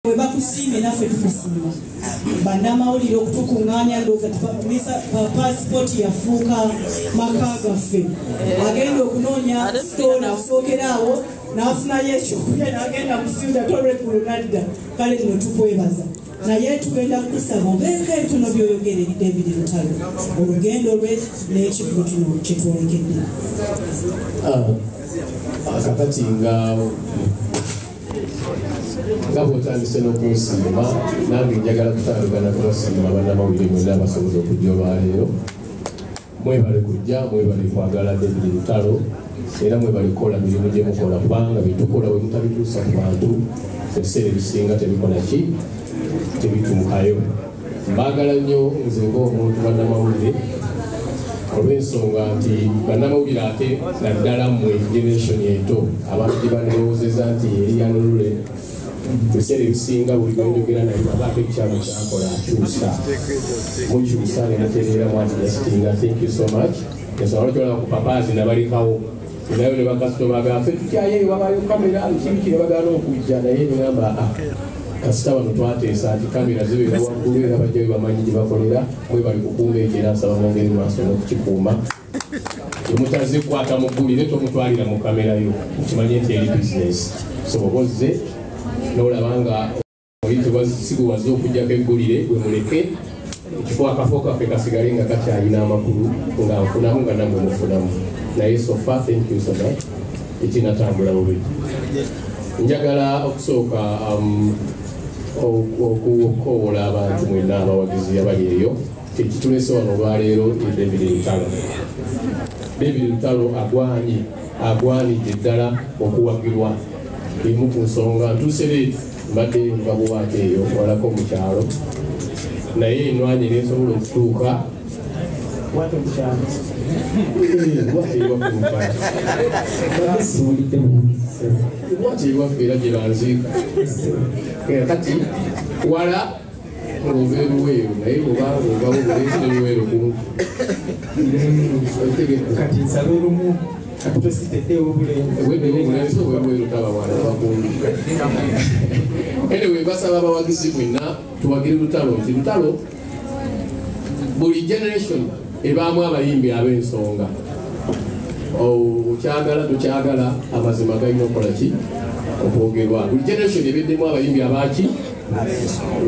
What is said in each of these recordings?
bwe bakusiimye naffe tukusiima bannamawulire okutukuŋŋaanya ndowooza tupapumisa paasipooti yafuuka maka gaffe agenda okunoonya sitoona asookera awo n'afunayo ekyokulya n'agenda mu fyuda tolwekulu nadda kale lino tukwebaza naye tugenda kukusaba obeeko ebitono byoyogere david lutalo olugendo lwe n'ekivugo kino kyetwolekedde ah, ah, kakati nga nga bwotandise n'okunsiima nange njagala kutandukana kubasiima bannamawulire mwena abasobola okujja olwaleero mwebale kujja mwebale kwagala david lutalo era mwebale kukola mirimu gye mukola kubanga byetukola we mutabituusa ku bantu ebiseera ebisinga tebikola ki tebituukayo Mbagala nnyo nze ng'omuntu bannamawulire olw'ensonga nti bannamawulire ate naddala mmwe generation ento abantu gye bandirowoozeza nti eri yanulule ebiseera ebisinga buli gwenjogera naye abaako ekikyalo kyakola akyusa mukyusa nemutereera mwati yasitinga thank you so much ensonga lwaki olaba ku papaazi nabalekawo nayo ne bakasitoma gafe tutyayo eyo wabayo kamera kibi kye bagana okujja naye nigamba a ah, kasita bano twateesa nti kamera zibeera waggulu era bajjayo bamanyi gye bakolera mwe bali kukuuma ekyo era nsaba mwongeri maaso n'okukikuuma emutazikwata mu ggulire tomutwalira mu kamera yo okimanye nti eri bizinesi so oba ozze n'olaba nga sikuwaza okujjako eggulire gwe muleke ekifo akafo kaffe kasigale nga kakyalina amakulu nga nfunamu nga namwe mufunamu naye sofa thank you so much ekinatambula bubi njagala okusooka um, okukowola abantu mwena abawagizi abali eyo kyekitulese wano olwaleero david lutalo david lutalo agwanye agwanidde ddala okuwagirwa emu ku nsonga ntusereeti mbadde nva buwaate eyo walako mu kyalo naye enwanyi nensobola okutuuka wati ewaffe era gyebanziika kati wala kati nsaba olumu anyway basaba abawagizi mwena tuwagire lutalo nti lutalo buli generation ebaamu abayimbi ab'ensonga okyagala oh, tukyagala amazima galina okukola ki okwogerwa buli generation ebeddemu abayimbi abaaki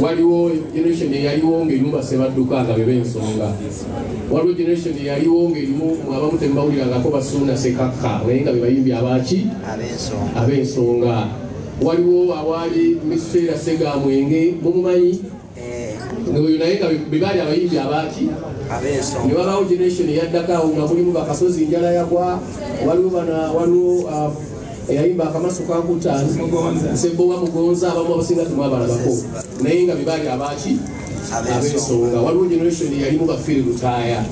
waliwo generation eyaliwo ngaerimu basebadduka nga beba ensonga waliwo generation eyaliwo ngaerimu abamu temubawulirangako basuuna sekakka naye nga bebayimbi abaki ab'ensonga waliwo awaali mukiseera sega mwenge mumumanyi eh. noyo naye nga bebaali abayimbi abaki ne wabawo generation eyaddako awo nga mulimu bakasozi njala yagwa waliwo bana waliwo uh, eyayimba akamaso kankutani sebowa mugonza abamu abasinga temwabalabako naye nga bebaali abaki abensonga waliwo generation yalimu bafiri lutaaya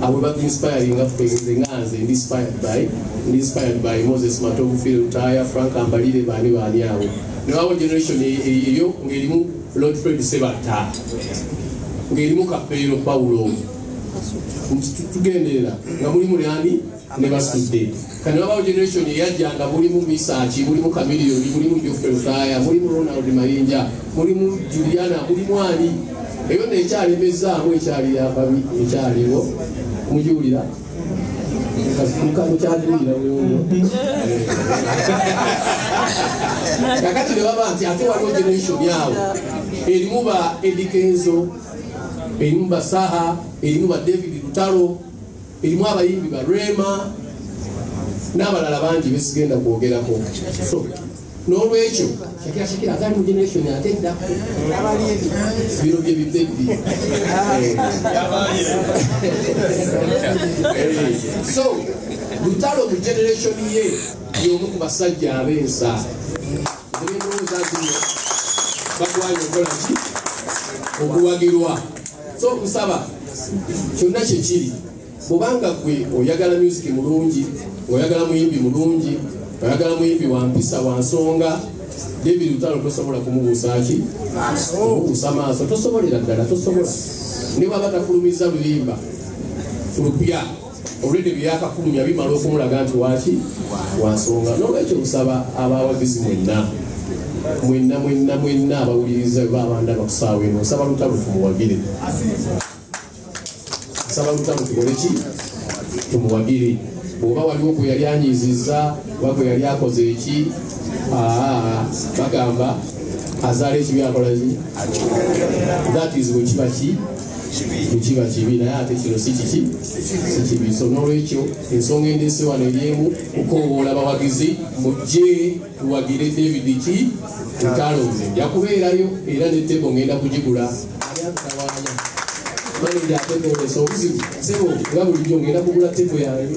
abo batu inspiring nga ffe nze nga nze ndi inspired by ndi inspired by moses matovu firi lutaaya frank ambalire baani baani awo newawo generation e, e, eyo ngaerimu lord fred sebatta ngaerimu kapeero paulo nti tugenderera nga mulimu lyani ne basudde kati babawo generation eyajja nga mulimu misaki mulimu kamiliyoni mulimu jofrey faya mulimu ronald mayinja mulimu juliana mulimu ani eyo nekyalemezaamu ekyali yababi ekyaliwo mujiwulira kakati nebaba nti ate waliwo generation yawo erimu ba edikenzo erimu basaha erimu ba david lutalo erimu abayimbi ba rema n'abalala bangi besigenda kwogerako so n'olwekyo shakira shakira atali mu generation ate dda bino bye bibebbi so lutalo mu generation ye y'omu ku basajja ab'ensa ebyendowooza zino bagwanye okola ki okuwagirwa so okusaba kyonna kyekiri bwobanga gwe oyagala music mulungi oyagala muyimbi mulungi oyagala muyimbi wampisa wansonga david lutalo tosobola kumubuusaaki omubuusa maaso tosobolera ddala tosobola ne bwaba tafulumiza luyimba fulupya olwedde byeyakafulumya bimala okumulaga nti waki wansonga nolwekyo nsaba abawagizi mwenna mwenna mwenna mwenna abawuliriza ba abanda bakusaawa eno nsaba lutalo tumuwagire nsaba lutalo tukoleki tumuwagire bwoba waliwo gwe yali anyiziza oba gwe yali akoze eki bagamba azaala ekibi akolaki that is wekiba ki tekiba kibi naye ate kino si kiki si kibi so n'olwekyo ensonga endeese wano eryemu kukoowoola bawagizi mujje tuwagire david ki ntalo nze nja kubeerayo era ne tebo ngenda kugigula manaja atekoolesa obuzibu sebo nga bulijjo ngenda kugula tebo yange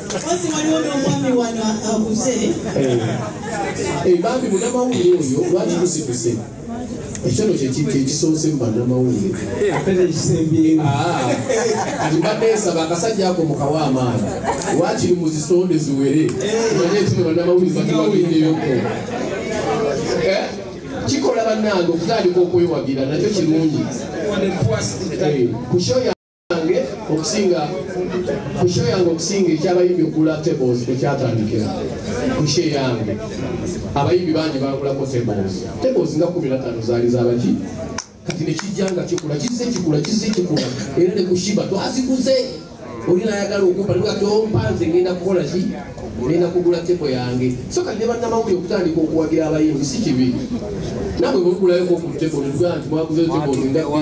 Mpozi waliwo n'omwami wano abuze. Eh, bambi munamawulire oyo lwaki kusituse? ekyalo kyekisoose mu banamawulire atibadde ah, nsaba akasajja ako mukawa amaani wakiri mu zisonde ziwere manye ekino banamawulire batubagendeyoko eh? kikola bannange okutandika okwewagira nakyo kirungi eh, yange okusinga ku sho yange okusinga ekyabayimbi okugula tables ekyatandikira ku sho yange abayimbi bangi bagulako tables tables nga kumi natano zaali zabaki kati nekijja nga kikula kizze kikula kizze kikula era ne kushiba twazikuze oli nayagala okumpa nga tompanze ngenda kukola ki ngenda kugula tepo yange so kati ne bannamawulire okutandika okuwagira abayimbi si kibi nabwe bwegulayokokutepo nti mwaguzeyo tepo